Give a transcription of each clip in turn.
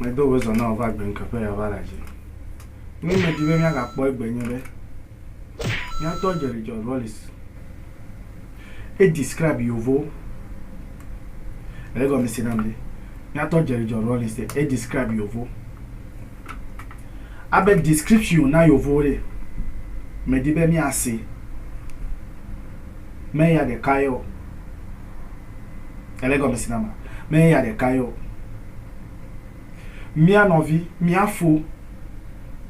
Medo wò zɔ na wò va gbe ŋke ƒe ya va la dzi. Nui me di be mia ga kpɔ egbe nye be, mia tɔ Jerry John Rawlings e describe yovo. Ego mi sina mi. Mia tɔ Jerry John Rawlings e describe yovo. Abe description na yovo re. Me di be mia se. Me ya de kayo. Ele gɔmesi na ma? Menye ya ɖeka ye o. Mía nɔvi, mía fo,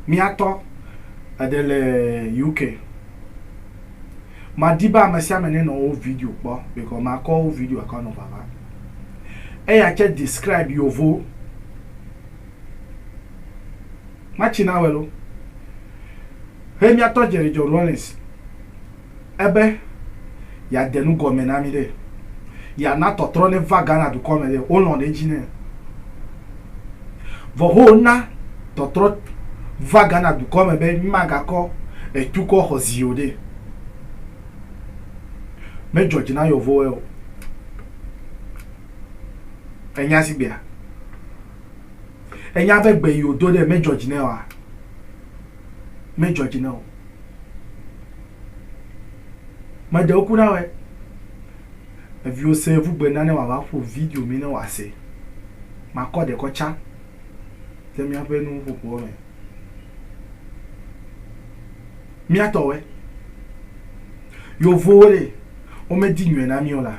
mía tɔ, eɖe le UK. Madi be ame sia ame nenɔ wo video kpɔ because makɔ wo video akɔ nɔ vava. Eya tse describe yovo. Matsi na wɛ lo. He mía tɔ Jerry John Rawlings. Ebe yeade nu gɔme na mí ɖe. Yeana tɔtrɔ neva Ghana dukɔ me ɖe. Wolɔ̃ ɖe edzi nɛ. Vɔ ho wona tɔtrɔ va Ghana dukɔ me be mímagakɔ etu kɔ xɔ zi o ɖe. Medzɔ dzi na yɔvowoe o. Ènya sigbea? Ènya be gbe yi wòdo ɖe medzɔ dzi nɛ oa? medzɔ dzi na wò. Meɖe ŋku na wòe. Eviwo se ŋu gbe na ne wòava ƒo video mi ne wòase. Makɔ ɖe kɔ tsa ɖe míaƒe nuƒoƒoa me. Mía tɔ wɔe. Yevowo ɖe, womedi nyɔe na mí o la.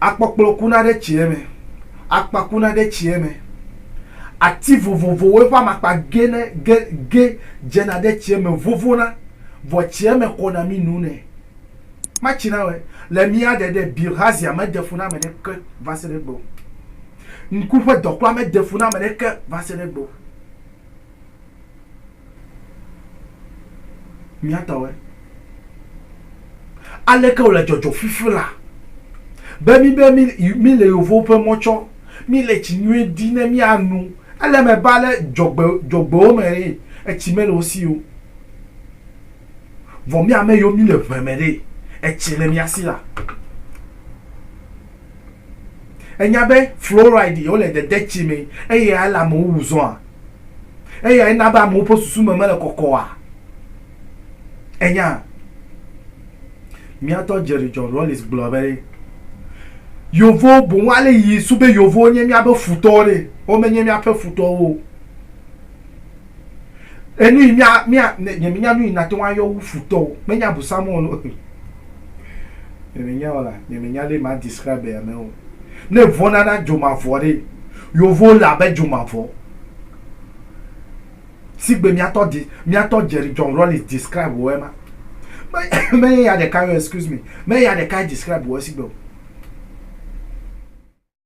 Akpɔkplɔ kuna ɖe tsie me, akpa kuna ɖe tsie me, ati vovovowoe ƒe amakpa gena ge ge dzena ɖe tsie me vovona, vɔ tsie me xɔna mi nu nɛ. Matsi na wɔe le mía ɖe ɖe Bilhazia mede fu na ame ɖeke va se ɖe egbe o. Ŋku ƒe dɔkpla mede fu na ame ɖeke va se ɖe egbe o. Mía tɔwoe. Aleke wòle dzɔdzɔ fifi la be mí be míle yevowo ƒe mɔ tsɔ, míle tsi nyui di ne míanu. Ele eme be ale dzɔgbe dzɔgbewo me eye etsi mele wo si o. Vɔ mí ame yiwo míle ŋe me ɖe etsi le mía si la. Ènya be fluoride ye wole dede tsi me eye eyae le amewo wu zɔa? Eyae na be amewo ƒe susu me mele kɔkɔa? Ènya? Míatɔ Jerry John Rawlings gblɔ be, Yevowo boŋ ale yi su be yevowo nye míaƒe futɔwo ɖe, womenye míaƒe futɔwo o. Enu yi mía mía nye menya nu yi nate ŋu ayɔ wu futɔwo menye abosam o lo. Nye menya o la nye menya ale ma describe ame o. Ne vɔna na dzomavɔ ɖe yovo le abe dzomavɔ. Sigbe miatɔ de miatɔ Jerry John Rawlings describe wɔ ema. Menye ya ɖeka yo excuse me menye ya ɖeka describe wɔ sigbe o.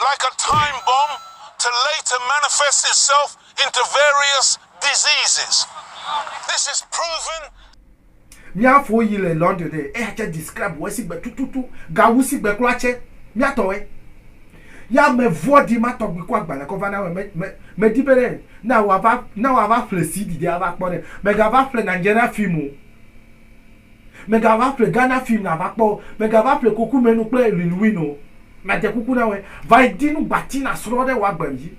Like a time bomb to later manifest itself into various diseases. This is proven. Mía fo yi le London ɖe, eya tsɛ describe wɔ sigbe tututu, gawu sigbe klɔ atsɛ mía tɔ wɛ. Yɛ ame vɔɖi ma tɔgbi kɔ agbalẽ kɔ va na wɛ, me, me, me di be ɖe, na wa va, na wa va ƒle CD ɖe a va kpɔ ɖe, me ga va ƒle Nigerian film o. Mègava ƒle Ghana film nàva kpɔ o, mègava ƒle Kokumenu kple Lil Win o, madze kuku na wòe, vayi di nugbati nàsrɔ̃ ɖe wò agbe dzi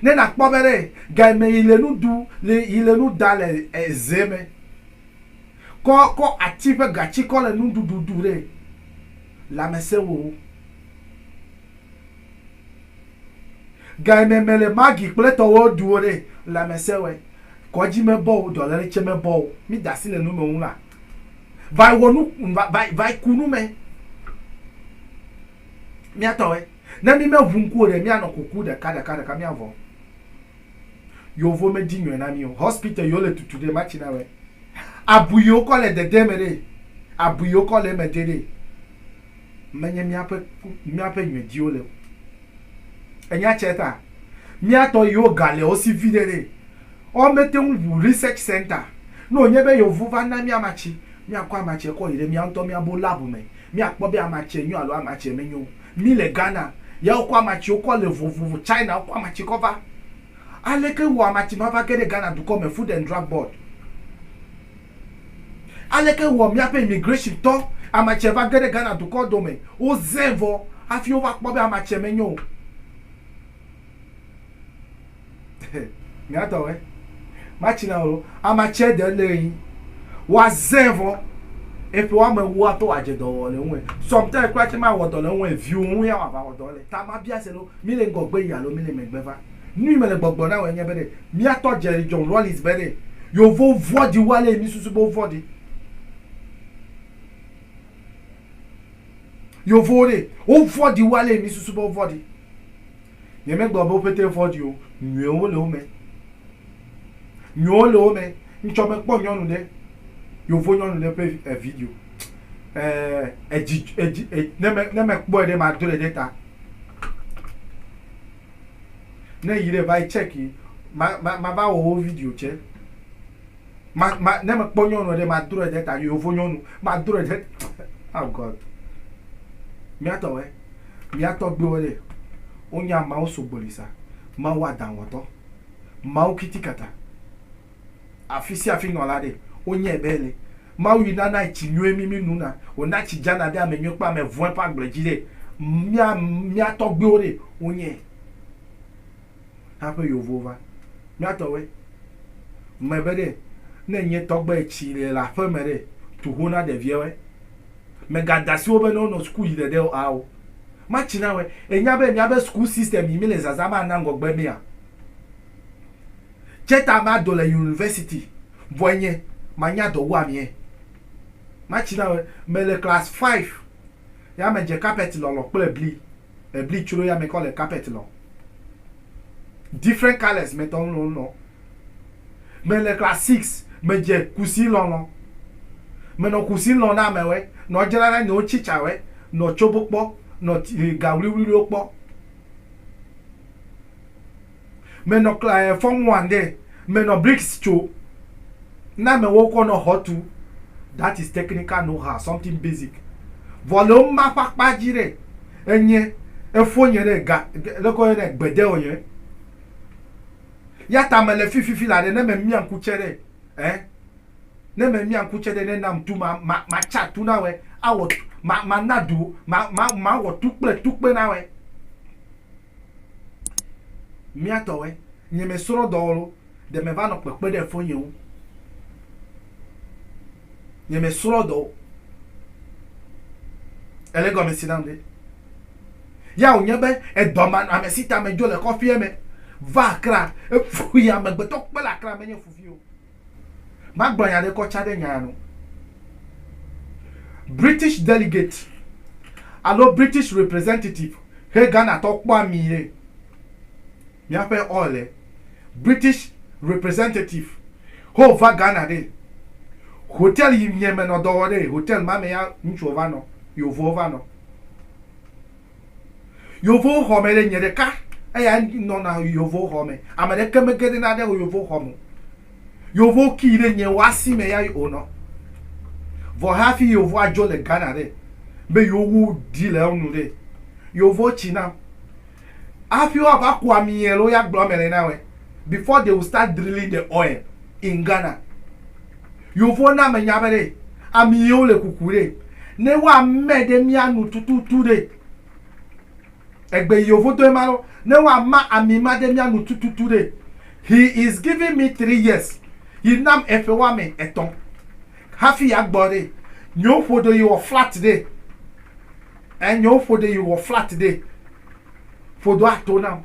ne nàkpɔ be ɖe gayi me yi le nu ɖu le yi le nu ɖa le eze me. Kɔ kɔ ati ƒe gatsi kɔ le nuɖuɖu ɖu ɖe lãmesẽ wò wo. Gayi me mele Maggi kple tɔwoe ɖu o ɖe lãmesẽ wɔe. Kɔdzi mebɔ o, dɔlele tsɛ mebɔ o, mi da asi le nu me ŋu la va wɔ nu va va va ku nu me. Mía tɔ ɛ. Ne mi me ʋu ŋku o ɖe, mía nɔ kuku ɖeka ɖeka ɖeka mía vɔ. Yovo me dzi nyɔɛ na mi o. Hospital yi wo le tutu ɖe, ma tsi na wɛ. Abui yi wo kɔ le dede me ɖe, abui yi wo kɔ le eme de ɖe. menye míaƒe míaƒe ŋmediwo le o. Enya tse ta mía tɔ yiwo ga le wo si viɖe ɖe wo mete ŋu ŋu research center ne wònye be yewo va na mí ama tsi míakɔ ama tsi kɔ yi ɖe mía ŋutɔ mía bo lab me míakpɔ be ama tsi nyo alo ama tsi menyo o. Mí le Ghana ya wokɔ ama tsiwo kɔ le vovovo China wokɔ ama tsi kɔ va. Aleke wɔ ama tsi ma va ge ɖe Ghana dukɔ me food and drug board. Aleke wɔ míaƒe immigration tɔ ame tsɛ va ge ɖe Ghana dukɔ dome, wozẽ vɔ hafi wova kpɔ be ame tsɛ menyo o? Nyatɔ wɛ. Matsi na wò. Ame tsɛ de le ɣi wa zẽ vɔ eƒe wa me wua tɔ wa dze dɔ wɔ le ŋu ɛ. Sometimes kura tsɛ ma wɔ dɔ le ŋu ɛ, viwo ŋu ya wa va wɔ dɔ le. Ta ma bia se ɖo, mi le ŋgɔ gbe yi alo mi le megbe va? Nui mele gbɔgblɔ na wòe nye be ɖe míatɔ Jerry John Rawlings be ɖe yewo vɔ̃ɖi wu ale yi mísusu be wovɔ̃ɖi. Yewowo ɖe wovɔ̃ɖi wu ale yi mísusu be wovɔ̃ɖi. Nyemegblɔ be wo ƒete vɔ̃ɖi o, nyuiwo le wo me. Nyuiwo le wo me. Ŋtsɔ mekpɔ nyɔnu ɖe, yevo nyɔnu ɖe ƒe eh video. Eh edzi edzi eh ne me ne mekpɔe ɖe madrɔe ɖe ta. Ne eyi ɖe vayi check yi ma ma mava wɔ wo video tsɛ. Ma ma ne mekpɔ nyɔnua ɖe madrɔe ɖe ta yovo nyɔnu madrɔe ɖe oh God. Miatɔ wɛ miatɔ gbewo ɖe wonya Mawu sogboli sa Mawu aɖaŋuwɔtɔ Mawu kitikata. Afi sia afi nɔla ɖe, wonyae be ele. Mawu yi nana tsi nyuie mí mínona, wòna tsi dzana ɖe ame nyui kple ame vɔ̃e ƒe agble dzi ɖe. Mía, mía tɔgbuiwo ɖe, wonyae haƒe yewovo va. Mía tɔwoe. Ŋmɛ be ɖe, ne ènye tɔgbe tsi le le aƒe me ɖe, tu ho na ɖeviɛwoe. Mègada asi wo be ne wonɔ suku yi ɖeɖe o ao, matsi na woe. Ènya be míabe suku system yi míle zazã be ana ŋgɔgbe mea? Tsɛ ta ma do le yunivɛsiti vɔɛ nyɛ ma nya dɔ wu amiɛ. Ma tsi na wɛ me le class five ya me dze carpet lɔlɔ kple ebli. Ebli tsro ya me kɔ le carpet lɔ. Different colors me tɔ ŋlɔ ŋlɔ. Me le class six me dze kusi lɔlɔ. Me nɔ kusi lɔ na amɛ wɛ nɔ dzra na nyiwo tsi tsa wɛ nɔ tsobo kpɔ nɔ ti ga wliwliwo kpɔ. Menɔ klae fɔmuande menɔ bricks tso na me wo kɔ nɔ xɔ tu that is technical know how something basic vɔ le wo ma ƒa kpa dzi ɖe enye efo nye ɖe ga leke wo yɔnɛ gbede o nye yata me le fi fifi la ɖe ne me mia ŋku tse ɖe eh ne me mia ŋku tse ɖe ne nam tu ma ma ma tsa tu na wɛ awɔ ma ma na do ma ma ma wɔ tu kple tu kpe na wɛ. Mía tɔwɛ, nye me srɔ dɔ olo, ɖe me va nɔ kpekpe ɖe fɔ nye ŋu. Nye me srɔ dɔ o. Ele gɔme si nam ɖe. Ya o nye be edɔ ma nɔ ame si ta me dzo le kɔfie me va akra. Efu yi amegbetɔ kpe le akra me nye fufi o. Magblɔ nya ɖe kɔ tsa ɖe nya ya nu. British delegate alo British representative he Ghana tɔ kpɔa mi ye. Mia ƒe oil e. British representative ho va Ghana ɖe. Hotel yi miɛ me nɔ dɔ wɔ ɖe. Hotel ma me ya ŋutsu ɔ va nɔ. Yovo ɔ va nɔ. Yevowo xɔ me ɖe, nye ɖeka eya nɔna yevowo xɔ me. Ame ɖeke me geɖena ɖe yevowo xɔ me o. Yevowo kii ɖe nye woasi me ya wo nɔ. Vɔ hafi yevowo adzo le Ghana ɖe, be yewo wu ɖi le enu ɖe, yevowo tsi nam. Hafi woava ku ami alo ya gblɔ ame le na wɛ. before they will start drilling the oil in Ghana. Yovo na me nya be ɖe ami yewo le kuku ɖe ne wa mɛ ɖe mia nu tututu ɖe. Egbe yovo do ema lɔ ne wa ma ami ma ɖe mia nu tututu ɖe. He is giving me three years. Yi nam eƒe wa me etɔn. Hafi ya gbɔ ɖe. Nyewo ƒo ɖe yi wɔ flat ɖe. Eh, nyewo ƒo ɖe yi wɔ flat ɖe. Ƒo do ato nam.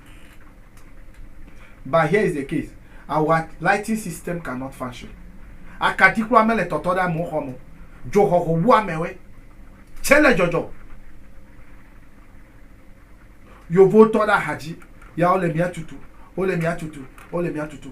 But here is the case, our lighting system cannot function. Akaɖi kura mele tɔtɔ ɖe amewo xɔme o. Dzoxɔxɔ wu amewoe tsɛ le dzɔdzɔ. Yovotɔ ɖe ahadzi ya wole mia tutu, wole mia tutu, wole mia tutu.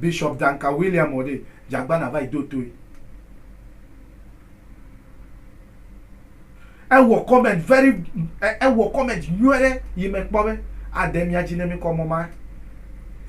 Bishop Duncan William Ode Jagbana va yi do toe. Ewɔ comment very ewɔ comment nyuie ɖe yi me kpɔ be ade mía dzi ne mí kɔ mɔ ma.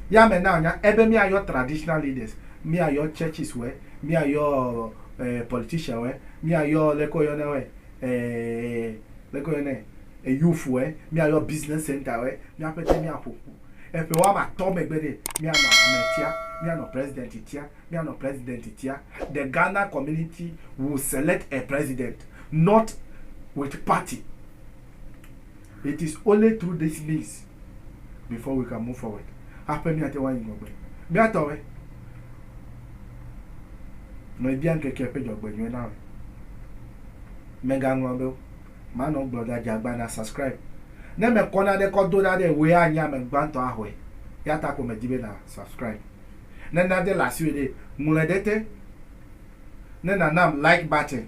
Ya me na nya ebe mía yɔ traditional leaders, mía yɔ churches wɛ, mía yɔ eh politician wɛ, mía yɔ leke wo yɔnɛ wɛ eh leke wo yɔnɛ eh youth wɛ, mía yɔ business center wɛ, mía ƒete mía ƒoƒu. Eƒe woame atɔ̃ megbe ɖe, míanɔ ametia, míanɔ president tia, míanɔ president tia. The Ghana community will select a president not with party. It is only through this means before we can move forward. Haƒe míate ŋu ayi ŋgɔgbe. Míatɔwɔe. Mebia ŋkekea ƒe dzɔgbenyuie na wò. Mègaŋlɔ be o. ma nɔ gblɔ da djagba na subscribe ne me kɔ nane kɔ do na ɖe woe a nye ame gbantɔ a xɔe ya ta ko me di be na subscribe ne na de le asiwe ɖe ŋlɔe ɖe te ne na nam like button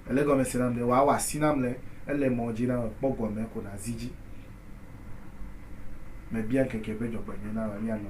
ele gɔme se nam ɖe wa wɔ asi nam le ele mɔ dji na me kpɔ gɔme ko na zi dji me bia ŋkeke ƒe djɔgbe nyuie na wa mia nɔ.